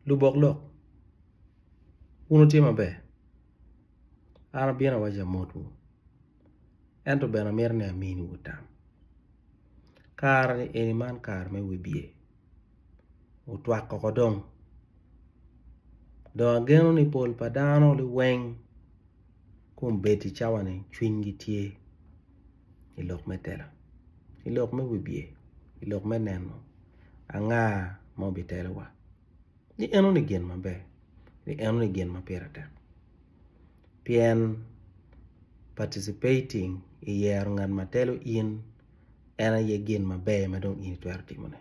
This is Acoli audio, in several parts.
lubok lok wun wutye maber an abino awaco amotwu ento bene amito ni aminiwu tam kare-ni eni man kare me wibye otwak koko dong dong ageno ni pol pa dano liweng kombeddi i cawani cwinygi tye i lok me tela i lok me wibye i lok me neno anga ma obitelowa ni enoni gin maber ni enoni gin ma pire tek pien participating i yero ngat ma telo in en aye gin maber ma dong in itwero timone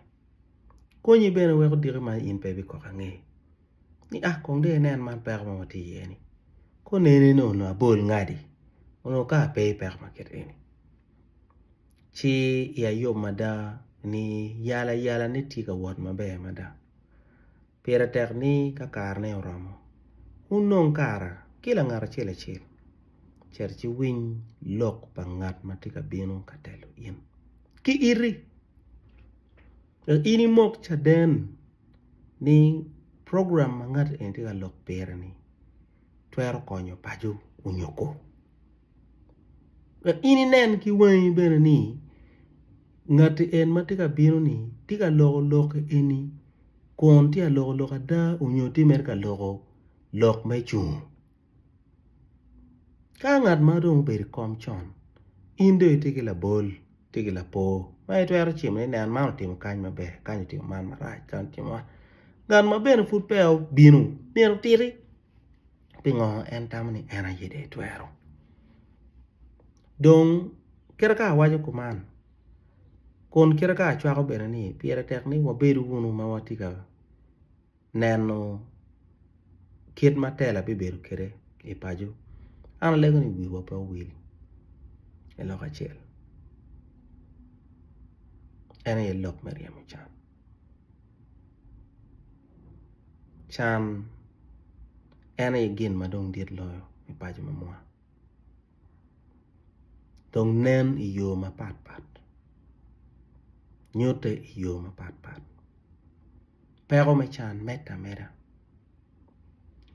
konyi bene weko diki ma in pe ibikoko ange. ni ah kong dong inen man peko ma watye iye ni ka oneni ni onongo abol ngati onongo kara pe i peko ma kit eni ci iya yom mada ni yal ayala ni tye ka wot maber mada pire tek ni ka kara ne oromo wun dong kara kila ngat acel acel cet ci winy lok pa ngat ma tye ka bino ka telo in ki iti Wek in imok caden ni program ma ngat eni tye ka lok pire-ni twero konyo paco onyoko. Wek in inen ki wangi bene ni ngat eni ma tye ka bino-ni tye ka loko lok eni kun tye ka loko lok ada nyo tye mere ka loko lok me cung. Ka ngat ma dong obedo i kom con in dong itye ki labol itye ki lapor ma itwero cimo ni nen man otimo kany maber kany otimo man marac kany otimo man ngat ma bene pud peya obino myero otiti pingo en tamo ni en aye dong etwero dong kite ka awaco kuman kun kite ka acwako bene ni pire tek ni wabedo wunu ma watye ka neno kit ma tela bibedo kwede i paco, an alego ni wiwa pe owil i lok acel en aye lok me ryemo can, can en aye gin ma dong dit loyo i paco ma mwa dong nen i yo mapat pat nyutte i yo mapat pat. peko me can medde ameda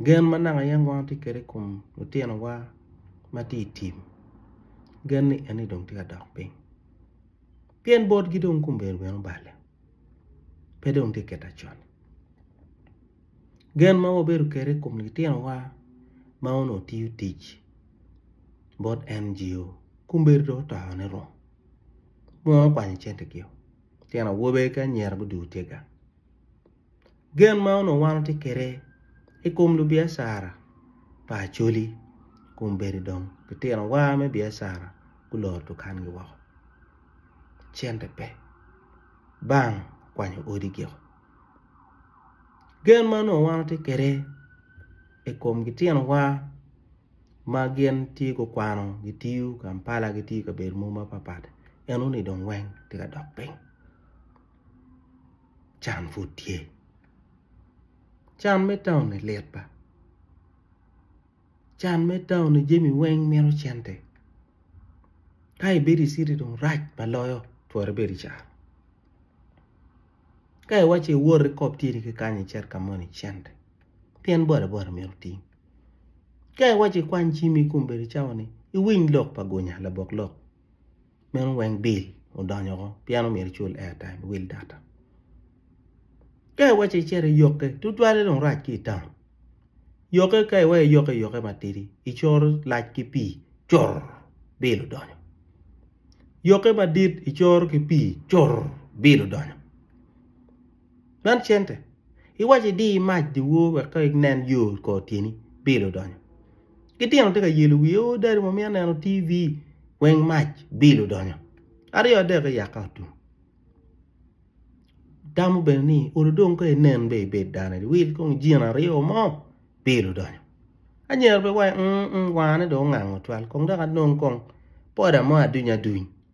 gen ma naka yen wango watye kwede i kom litinowa ma tye i tim gen ni eni dong tye ka dok piny pien botgi dong kombeddi bene oballe pe dong tye ka kit macon gen ma wabedo kwede i kom litinowa ma onongo tiyo tic bot NGO kombeddi dong otone rom muno okwanyo centegio. tyen awobe ki anyira guducu tye ga. Gen ma onongo wan watye kwede i kom lubiacara pa Acholi kombeddi dong litinowa me biacara guloro dukangi woko, cente pe, bank okwanyo odi giko. Gen ma onongo wan watye kwede i kom litinowa ma gin tye gukwano gitiyo Kampala gitiyo i kabedo mogo mapapat enoni dong weng tye ka dok piny can pud tye can me taun-ni lit ba can me taun-ni jami weng mito cente ka ibedo i citi dong rac ba loyo twero ibed i car ka iwaco iwoti kop tyeni ki kany icit ka moni cente pien boda boda myero oting Ka iwaco ikwany jami i kom bedo cawa ni iwiny lok pa gunya labok lok meno weng bill odonyo woko pien omyero icul airtime iwil data. Ka iwaco icito iyokke tutwale dong rac ki itaun yokke ka iweyo iyokke iyokke matidi icoro lac ki pii cur bill odonyo yokke madit icoro ki pii cur bill odonyo. Man cente. Iwaco idi i mac dyewor wek ka inen yo kor tyeni bil odonyo. Ki tino tye ka yelo wiye o dadi wa mito neno TV weng mac bil odonyo. Aryo adek iyaka otum. Tamo bene ni olo dong ka inen be ibed dano adi wil kong jin aryo mo bil odonyo. Anyira pe waco ung ung wangane dong ongango twal kong dok anong kong poda mo aduny aduny.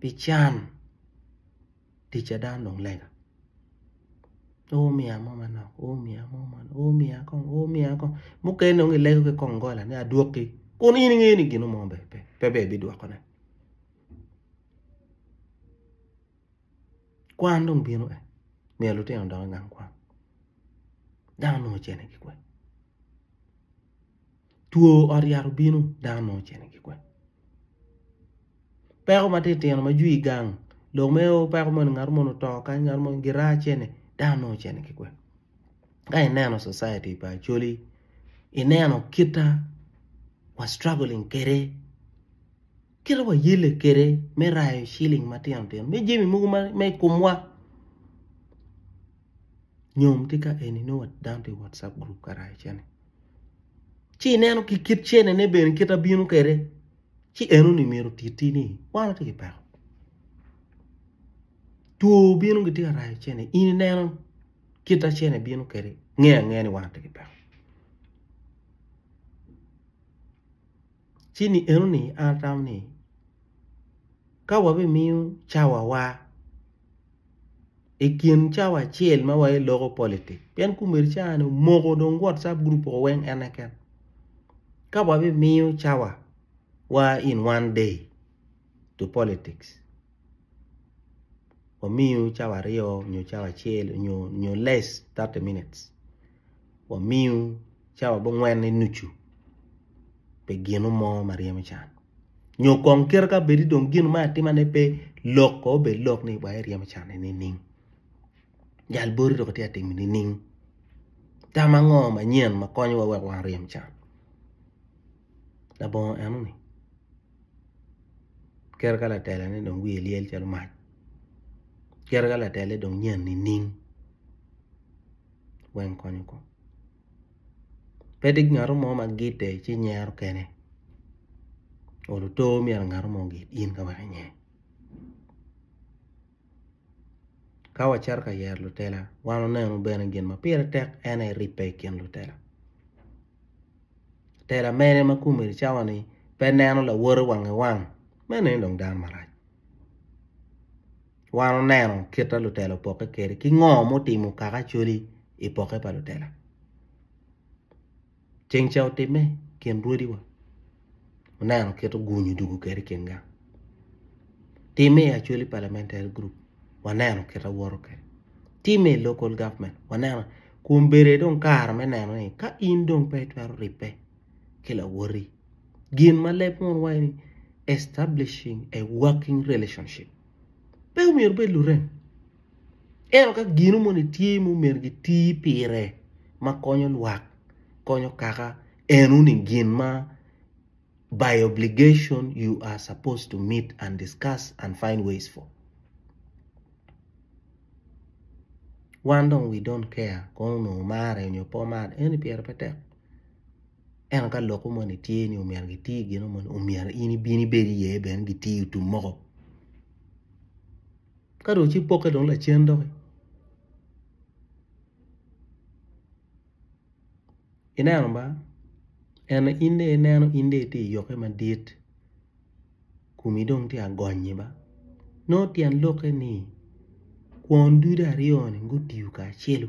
pi can ticca dano dong lega o omiya mo manok o omiya mo manok o omiya kong o omiya kong mukene dong gilego ki kongola ni adwoki kun in ingeyo ni gin mo ber pe pe ber bidwokone kwan dong bino en myero lutino odok i gang kwan dano nongo ocene ki kwene. Two ot yat obino dano nongo ocito i gikwena peko ma titino ma jwi i gang lok mere o peko moni ngat moni oto kany ngat moni giraa cene dano nongo ocito i gikwena ka ineno citety pa Acholi ineno kita wa struggling kwede kita wayelle kwede me rayo ciling matino tino me jami mogo ma i komwa nyom tye ka eni nongo dano tye i whatsapp group ka rayo cene. ci ineno ki kit cenene bene kit abino kwede ci enoni myero otiti ni wan watye ki peko two obino gitye ka rayo cene in ineno kit ma cene bino kwede ingeyo angeya ni wan watye ki peko ci ni enoni an atamo ni ka wabimiyo cawawa. i kin cawa acel ma wa iloko politik pien komedi cawa ni omoko dong whatsapp group oko weng en keken ka wa bimiyo cawa wa in one day to politics wamiyo cawa aryo nyo cawa acel nyo less thirty minutes. wamiu cawa bongwen ni nucu pi ginu mo ma ryemo can, nyo kong kite ka bedi dong gin ma atima ne pe lok kono bed lok ni wa iryemo can ni nining? Jal boti dong itye ka timo nining? Tam ango manyen ma konyo wa wek wa ryem can? Labongo eno ni kite ka latela ne dong wiye lyel calo mac, kite ka latela ne dong nyen nining? weng konyo kong pe dong ngat mo ma gidde ci nyero kene olo otor myero ngat mo ogid in ka wek inge ka wacito ka yero lutela wan oneno bene gin ma pire tek en aye ribbe i kin lutela tela mene ma kome i cawa ni pe neno lawote wange wang meno ni dong dano marac. Wan oneno kit a lutela opokke kede ki ngo mutimo kaka acoli i pokke pa lutela. Ceng ca otimme kin rwodi wa oneno kit oguny odugu kede kin gang. Timme i acoli parliamentary group waneno kit awoto kede. Timme i local government waneno kun bede dong kare me neno ni ka in dong pe itwero ribbe ki lawoti gin ma leb mono waci ni establishing a working relationship. pe omyero obed lurem ento ka gino moni tye ma omyero giti pire ma konyo lwak konyo kaka eno ni gin ma by obligation you are supposed to meet and discuss and find ways for wan dong we don't care kong onongo omare nyo pe omar eno ni pire pe tek. ento ka lokwu moni tye ni omyero gitir gino moni omyero in ibin ibed iye bene gitir tum moko ka dong ci pokke dong lacen dok ineno ma en in dong ineno in dong itye iyokke madit komi dong tye ka gonyi ma nongo tyen lokke ni kwon ducu aryo ni gutiyo kacelu.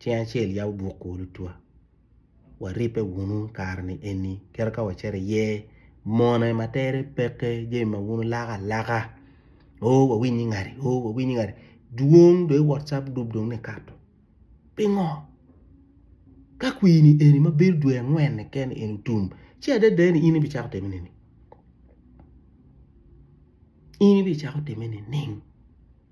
Cing acel yabo buk ku lutwa. Waribbe wunu kare-ni eni, kadi ka wacito iye, mone ma tere peke, jami ma wun wulako alaka, o wawiny ni ngati, o wawiny ni ngati, dwong dong i whatsapp group dong nikato. Pingo? Ka kwini eni ma bedo dwe angwen-ni kene eni otum, ci adada ni in ibicako time nining? In ibicako time nining?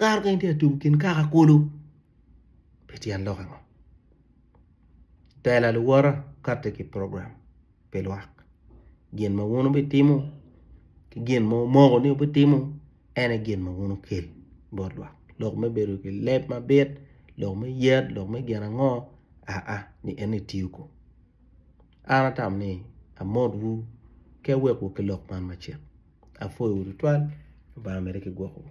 Kare kong itye ka tuku kin kaka kulu pi tyen lok ango? Tela luwota kati ki program pi lwak gin ma wun wubitimo ki gin ma wumoko ni wubitimo en aye gin ma wun wukel bot lwak lok me bedo ki leb mabit, lok me yat, lok me gin ango aa ni en aye itiyo kong an atamo ni amotwu ki awek wu ki lok man macek apwoyo wu tutwal Lubanga omede ki gwokowu.